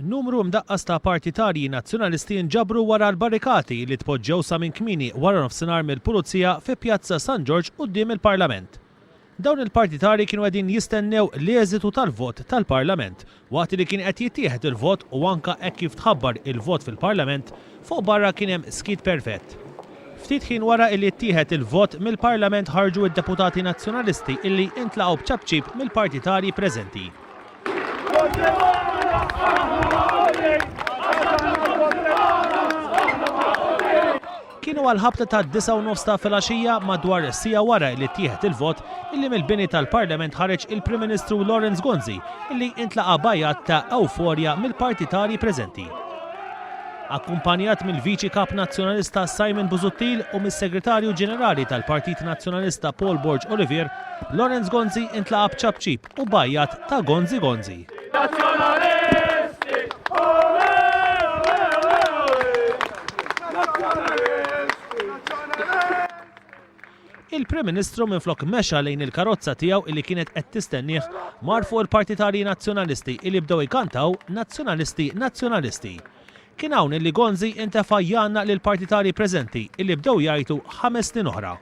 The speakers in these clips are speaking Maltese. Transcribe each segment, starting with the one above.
Numru mdaqqas ta' partitarji Nazzjonalisti nġabru wara l-barrikati li tpoġġew sa minn kmieni waranofsinhar mill-Pulizija fi Pjazza San Ġorġ quddiem il-Parlament. Dawn il-partitarji kienu qegħdin jistennew l-eżitu tal-vot tal-Parlament Waqt li kien qed jittieħed il-vot u anke hekk kif tħabbar il-vot fil-Parlament, fuq barra kien hemm skiet perfett. Ftit ħin wara illi ttieħed il-vot, mill-Parlament ħarġu id-deputati Nazzjonalisti illi intlaqgħu b'ċapċip mill-partitarji preżenti. Kienu għall-ħabta tad-disgħa u nofs ta' filgħaxija, madwar siegħa wara li ttieħed il-vot, illi mill-bini tal-Parlament ħareġ il-Prim Ministru Lawrence Gonzi illi intlaqa' b'għajat ta' ewforja mill-partitarji preżenti. Akkumpanjat mill-Viċi Kap Nazzjonalista Simon Busuttil u mis-Segretarju Ġenerali tal-Partit Nazzjonalista Paul Borg Olivier, Lawrence Gonzi intlaqa' b'ċapċip, u b'għajjat ta' Gonzi Gonzi! Nazzjonalisti, ole, ole, ole, ole! Nazzjonalisti, nazzjonalisti! Il-Prim Ministru minflok mexa lejn il-karozza tiegħu illi kienet qed tistennieh, mar fuq il-partitarji Nazzjonalisti illi bdew ikantaw Nazzjonalisti, nazzjonalisti! Kien hawn illi Gonzi intefa' jgħannaq lill-partitarji preżenti illi bdew jgħajtu ħames snin oħra.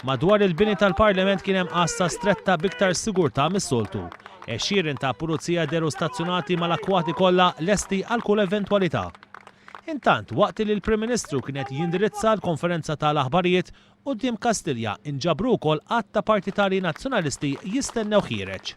Madwar il-bini tal-Parlament kien hemm għassa stretta b'iktar sigurtà mis-soltu. Għexieren ta' pulizija deru stazzjonati mal-akkwati kollha lesti għal kull eventwalità. Intant, waqt li l-Prim Ministru kien qed jindirizza l-konferenza ta' l-aħbarijiet, quddiem Kastilja inġabru wkoll għadd ta' partitarji Nazzjonalisti jistennewh jiereġ.